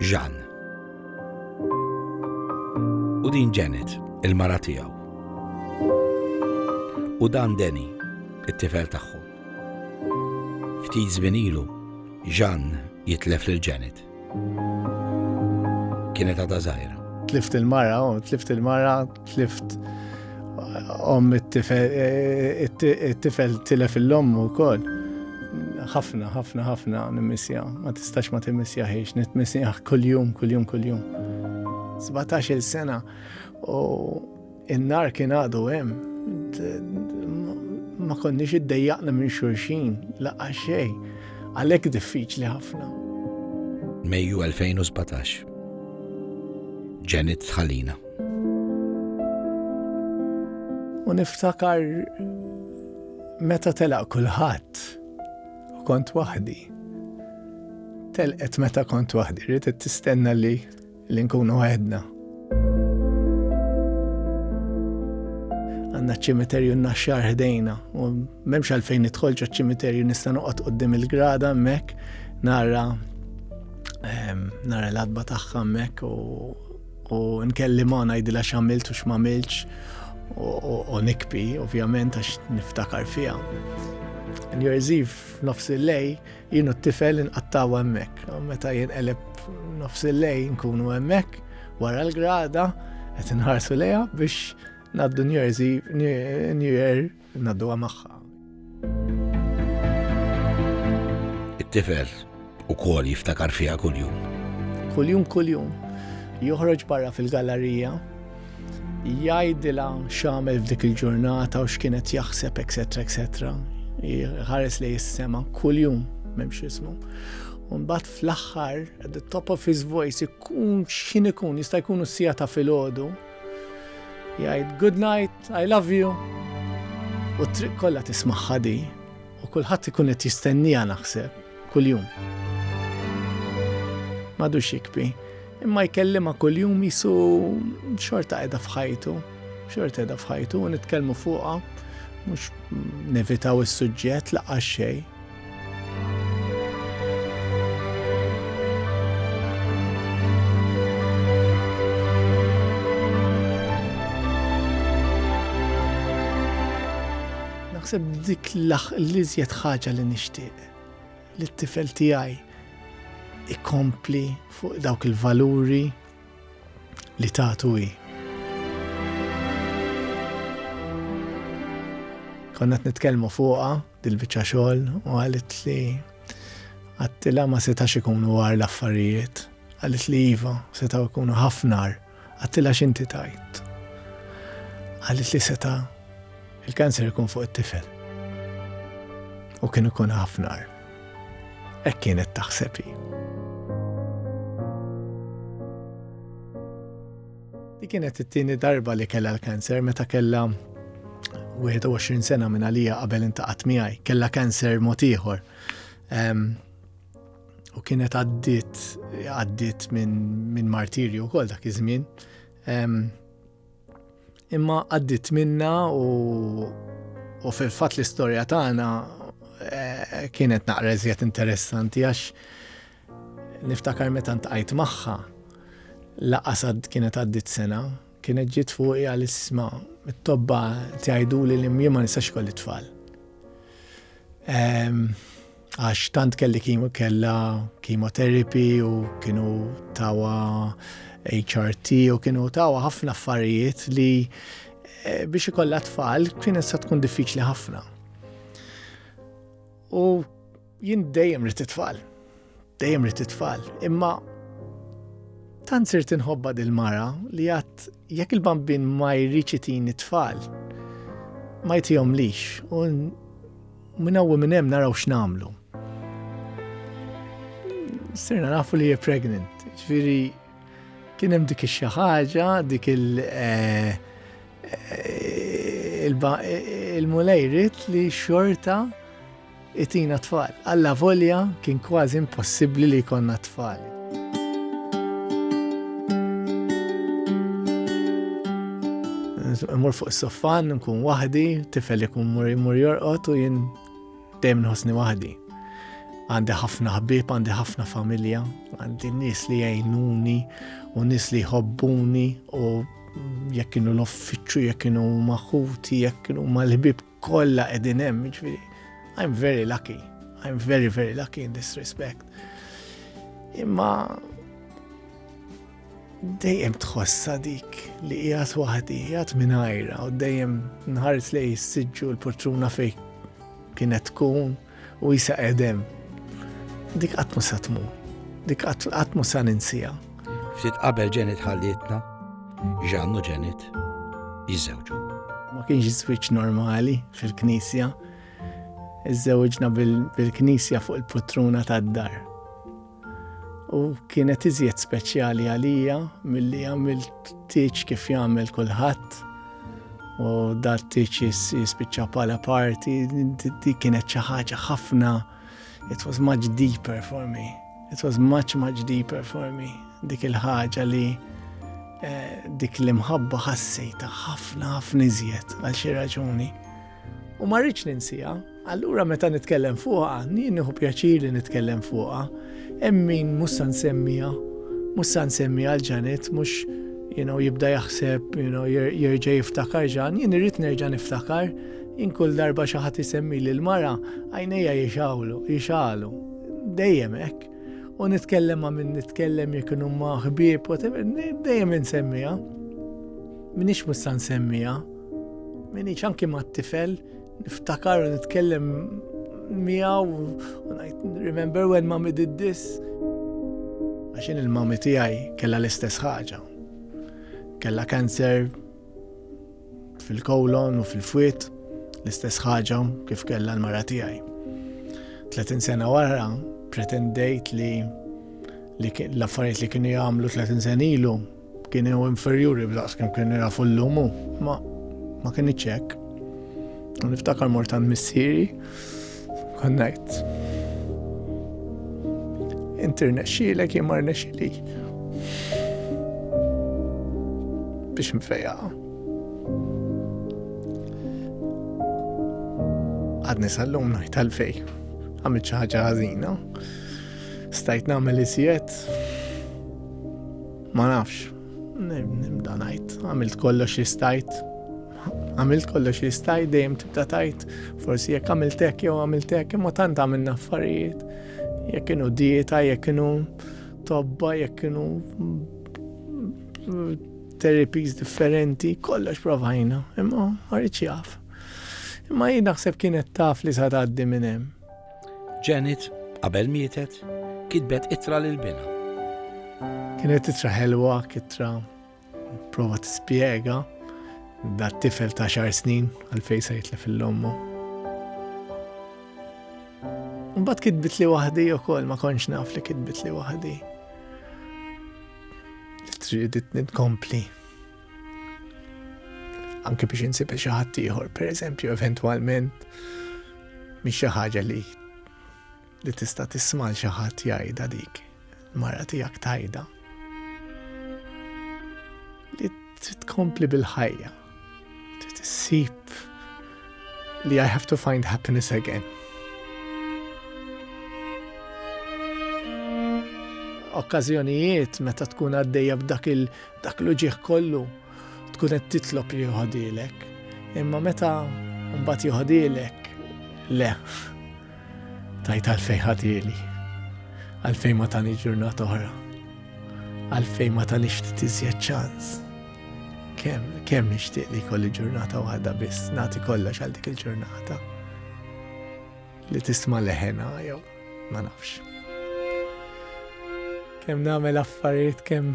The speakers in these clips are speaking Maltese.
Jean. U din Janet, il-mara tiegħu. U dan Deni, it-tifel tagħhom. Ftit żmien ilu, Jean jitlef lil Janet. Kienet għadha żgħira. Tlift il-mara, oh, tlift il-mara, tlift om it-tifel, eh, it-tifel tilef il-lom u kol. ħafna, ħafna, ħafna nimmissja. Ma tistax ma timmissja ħiex, nitmissja kull-jum, kull-jum, kull-jum. 17 il-sena u In-nar kien għadu hemm. Ma konniex iddejjaqna minn xulxin, laqgħa xejn. Għalhekk diffiċli ħafna. Mejju 2017. Janet Tħalina. U niftakar meta telaq kulħadd u kont waħdi. Telqet meta kont waħdi, rrid tistenna li li nkunu għedna. Għanna ċimiterju n-naxxar ħdejna u memx għalfejn nidħolġu ċimiterju nista' noqgħod qoddim il-grada mek nara ehm, nara l-adba tagħha mek u nkellimha ngħidilha x'għamilt u x'mamilx u nikpi ovvjament għax niftakar fiha. New Year's Eve nofs il-lej Jien u t-tifel inqattaw hemmhekk. Meta jinqeleb nofs il-lejn nkunu hemmhekk wara l-grada qed inħarsu lejha biex naddu New Year's New Year naddu magħha. It-tifel ukoll jiftakar fiha kuljum. Kuljum kuljum joħroġ barra fil-gallerija jgħidilha x'għamel f'dik il-ġurnata u x'kienet jaħseb, etc. etc. Ħares li jissema kuljum m'hemmx ismu. Unbat fl-aħħar, at the top of his voice, ikun x'in ikun, jista' jkunu sija ta' filgħodu. Jgħid, good night, I love you. U triq kollha tismaħħa di. U kulħadd ikun qed jistenniha naħseb kuljum. Madu xikbi, imma jkellima kuljum jisu xorta qiegħda f'ħajtu, xorta qiegħda f'ħajtu u nitkellmu fuqha mhux nevitaw is-suġġett laqgħa xejn. Naħseb dik l-iżjed ħaġa li nixtieq li t-tifel tiegħi ikompli fuq dawk il-valuri li tatu hi. Konna t-nitkelmu fuqa dil-bicċa xogħol u għalit li għattila ma setax ikunu għar l-affarijiet. Għalit li jiva setaw ikunu ħafnar. Għattilha x'inti tgħid. Qalet li seta' il-kanser ikun fuq it-tifel. U kien ikun ħafna. Hekk kienet taħseb hi. Di kienet it-tieni darba li kellha l-kanser meta kellha 21 sena minn għalija qabel intaqat miegħi, kellha kanser mod ieħor. u kienet għaddit għaddit minn min martirju wkoll dak iż-żmien. Imma għaddit minna u, u fil-fatt l-istorja tagħna eh, kienet naqra iżjed interessanti għax niftakar meta ntqajt magħha laqasad kienet għaddit sena, kienet ġiet fuqi għal isma it-tobba tgħidu li l-imjiem ma nistax kolli tfal. għax tant kelli kimo kella chemotherapy u kienu tawa HRT u kienu tawa ħafna affarijiet li eh, biex ikollha tfal kien issa tkun diffiċli ħafna. U jien dejjem rrid tfal. Dejjem rrid tfal. Imma tant sirt inħobba dil-mara li għat jekk il-bambin ma jriċi tini tfal ma jtijom lix. Minn hawn u minn hemm naraw x'nagħmlu. Sirna nafu li hija pregnant, ġifieri kien hemm dik xi ħaġa, dik il- eh, eh, eh, il-mulejrit li xorta itina tfal. Alla volja kien kważi impossibbli li jkollna tfal. Mur fuq is-soffan, nkun waħdi, tifel ikun mur imur jorqod u jien dejjem nħossni waħdi. Għandi ħafna ħbib, għandi ħafna familja, għandi nies li jgħinuni u nies li jħobbuni u jekk kienu l-offiċċju, jekk kienu maħuti, jekk kienu mal-ħbib kollha qegħdin hemm, jiġifieri I'm very lucky. I'm very very lucky in this respect. Imma dejjem tħossa dik li qiegħed waħdi, qiegħed mingħajra u dejjem nħares li jissiġġu l-portruna fej kienet tkun u jisa edem. Dik qatt ma sa tmur. Dik qatt ma sa ninsija. Ftit qabel ġenit ħallietna, ġannu ġenit jiżewġu. Ma kienx żwieġ normali fil-knisja. Iżżewġna bil-knisja fuq il-putruna tad-dar. u kienet iżjed speċjali għalija milli għamilt tiċ kif jagħmel kulħadd u dat tiċ jispiċċa pala parti di kienet xi ħaġa ħafna it was much deeper for me it was much much deeper for me dik il-ħaġa li eh, dik l-imħabba ħassejta ħafna ħafna iżjed għal xi raġuni. u ma rridx ninsiha. Allura meta nitkellem fuqha, nieħu pjaċir li nitkellem fuqha, hemm min mhux se nsemmija, mhux se nsemmija għal ġanet, mhux jibda jaħseb, jerġa' jiftakar ġan, jien irrid nerġa' niftakar, jien kull darba xi ħadd isemmi lil mara għajnejja jixawlu, jixalu. Dejjem hekk. U nitkellem ma' min nitkellem jekk huma ħbieb, dejjem insemmija. Minix mhux se nsemmija. Minix anki ma' tifel, niftakar u nitkellem miegħu u ngħid remember when mommy did this. Għaxin il-mommy tiegħi kellha l-istess ħaġa. Kellha kanser fil-kolon u fil-fwit l-istess ħaġa kif kellha l-mara tiegħi. 30 sena wara pretendejt li l-affarijiet li kienu jagħmlu 30 sena ilu Kienu inferjuri b'daqs kemm kienu jafu llum u ma ma kienx hekk. U niftakar mort għand missieri konnajt. Inti rnexxielek jien ma rnexxieli. Biex nfejja. Għadni sal-lum ngħid għalfej. Għamilt xi ħaġa ħażina. Stajt nagħmel iżjed. Ma nafx, nibda ngħid, għamilt kollox li stajt. Għamilt kollox li stajt dejjem tibda tajt, forsi jekk għamilt hekk jew għamilt hekk, imma tant għamilna affarijiet. Jekk kienu dieta, jekk kienu tobba, jekk kienu terapies differenti, kollox provajna, imma ma rridx jaf. Imma jien naħseb kienet taf li sa tgħaddi minn hemm. Janet, qabel mietet, kitbet ittra lil binha. Kienet ittra ħelwa, kittra prova tispjega dat tifel ta' xar snin għalfej se jitlef l-lommu. Mbagħad kitbit li waħdi ukoll ma kontx naf li kitbit li waħdi. Tridit nitkompli Anke biex insib xi ħadd ieħor, pereżempju eventwalment mhix xi ħaġa li li tista' tisma' xi ħadd jgħidha dik mara tiegħek tajda. Li tkompli bil-ħajja. Tissib li I have to find happiness again. Okkazjonijiet meta tkun għaddejja b'dak il Dak l-uġieħ kollu tkun qed titlob li joħodilek, imma meta mbagħad joħodilek le tajt għalfej ħadili, għalfej ma tani ġurnata oħra, għalfej ma tani ftit iżjed ċans. Kem, kem nixtieq li kolli ġurnata waħda biss, nagħti kollox għal dik il-ġurnata li tisma' leħena jew ma nafx. Kem nagħmel affarijiet kem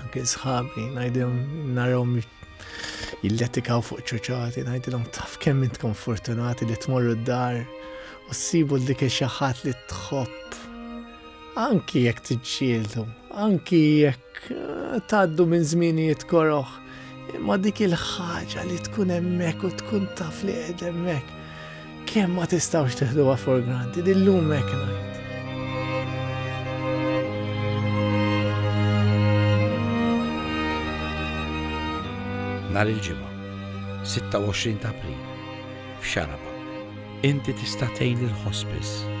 Anke sħabi, najdem, narom jilletikaw fuq ċoċati, najdilom taf kemm intkom fortunati li tmorru d-dar u s-sibu l-dik xaħat li tħobb. Anki jekk tiġġieldu, anki jekk eh, taddu minn zminijiet koroħ, ma dik il-ħaġa li tkun emmek u tkun taf li qed emmek Kemm ma tistgħux teħduha for granted illum hekk ngħid. Nar il-ġimgħa, 26 ta' April, f'Xaraba, inti tista' tgħin il-hospice